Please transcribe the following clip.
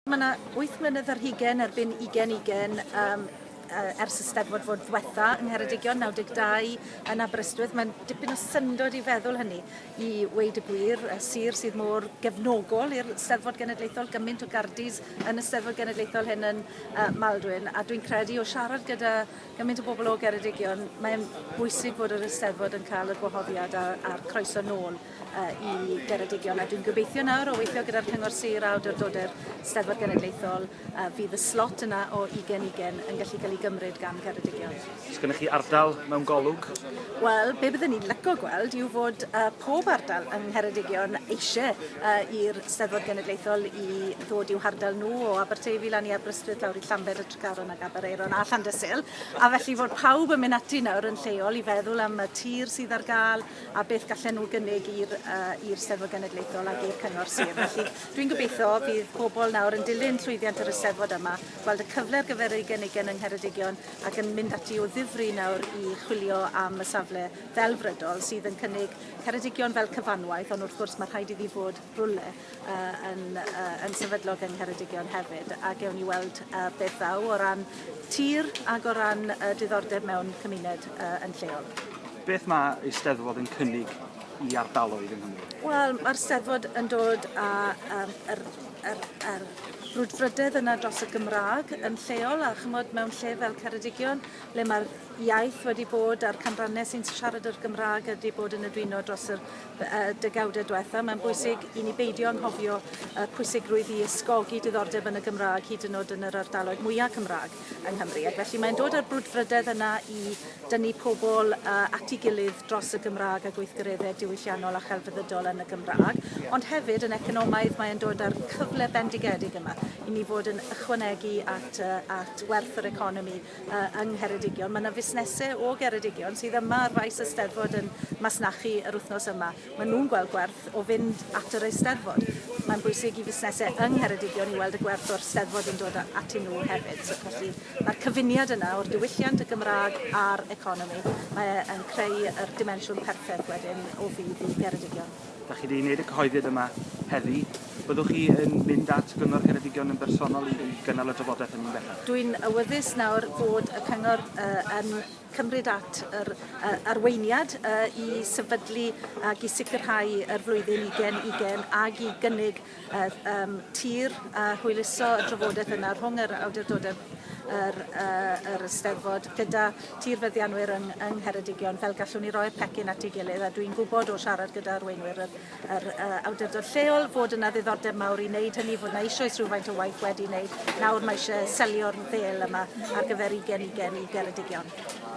Mae yna wyth mlynedd ar hugen erbyn ugen ugen um, ers y Steddfod fod ddwetha yng Ngheredigion 92 yn Aberystwyth. Mae'n dipyn o syndod i feddwl hynny i weid y gwir, y sir sydd mor gefnogol i'r Steddfod Genedlaethol, gymaint o gardis yn y Steddfod Genedlaethol hyn yn uh, Maldwyn. A dwi'n credu o siarad gyda gymaint o bobl o Geredigion, mae'n bwysig bod yr Eisteddfod yn cael y gwahoddiad a'r croeso nôl i Geredigion a dwi'n gobeithio nawr o weithio gyda'r Cyngor Sir a Awdurdodau'r Steddfod Genedlaethol a fydd y slot yna o 20-20 yn gallu cael ei gymryd gan Geredigion. Os gennych chi ardal mewn golwg? Wel, be byddwn ni'n lyco gweld yw fod uh, pob ardal yng Ngheredigion eisiau uh, i'r Steddfod Genedlaethol i ddod i'w hardal nhw o Aberteifi lan i Aberystwyth lawr i Llanbed y Tregaron ac Abereiron a Llandysul a felly fod pawb yn mynd ati nawr yn lleol i feddwl am y tir sydd ar gael a beth gallen nhw gynnig i'r uh, i'r Steddfod Genedlaethol ac i'r Cyngor Sir. Felly dwi'n gobeithio bydd pobl nawr yn dilyn llwyddiant yr Eisteddfod yma, gweld y cyfle ar gyfer ei gynigen yng Ngheredigion ac yn mynd ati o ddifri nawr i chwilio am y safle ddelfrydol sydd yn cynnig Ceredigion fel cyfanwaith, ond wrth gwrs mae rhaid iddi fod rhywle yy yn yy yn sefydlog yng Ngheredigion hefyd a gewn ni weld yy beth ddaw o ran tir ag o ran yy diddordeb mewn cymuned yy yn lleol. Beth mae Eisteddfod yn cynnig i ardaloedd yng Nghymru? Wel, mae'r Steddfod yn dod â um, yr, yr, yr brwdfrydedd yna dros y Gymraeg yn lleol a chymod mewn lle fel Ceredigion le mae'r iaith wedi bod a'r canrannau sy'n siarad yr Gymraeg wedi bod yn edwino dros yr y degawdau diwethaf, mae'n bwysig i ni beidio anghofio y pwysigrwydd i ysgogi diddordeb yn y Gymraeg, hyd yn oed yn yr ardaloedd mwyaf Cymraeg yng Nghymru. Ac felly mae'n dod â'r brwdfrydedd yna i dynnu pobl uh, at ei gilydd dros y Gymraeg a gweithgareddau diwylliannol a chelfyddydol yn y Gymraeg. Ond hefyd yn economaidd mae'n dod â'r cyfle bendigedig yma i ni fod yn ychwanegu at, uh, at werth yr economi uh, yng Ngheredigion. Mae yna fusnesau o Geredigion sydd yma ar faes y Steddfod yn masnachu yr wythnos yma. Mae nhw'n gweld gwerth o fynd at yr Eisteddfod. Mae'n bwysig i fusnesau yng Ngheredigion i weld y gwerth o'r Steddfod yn dod atyn nhw hefyd. So, felly mae'r cyfuniad yna o'r diwylliant, y Gymraeg a'r economi. Mae e'n creu yr dimensiwn perffaith wedyn o fydd i Geredigion. Dach chi 'di wneud y cyhoeddiad yma heddi. Byddwch chi yn mynd at Gyngor Ceredigion yn bersonol i i gynnal y drafodaeth hynny'n bellach? Dwi'n awyddus nawr bod y Cyngor uh, yn cymryd at yr uh, arweiniad uh, i sefydlu ac i sicrhau yr flwyddyn 2020 ac i gynnig Yr um, tir a hwyluso y drafodaeth yna rhwng yr awdurdodau yr, uh, yr Eisteddfod gyda tir feddianwyr yng, yng Ngheredigion fel gallwn ni roi'r pecyn at ei gilydd a dwi'n gwybod o siarad gyda arweinwyr yr, yr uh, awdurdod lleol fod yna ddiddordeb mawr i wneud hynny, fod yna eisoes rhywfaint o waith wedi wneud. Nawr mae eisiau selio'r ddel yma ar gyfer 20 ugen i Geredigion.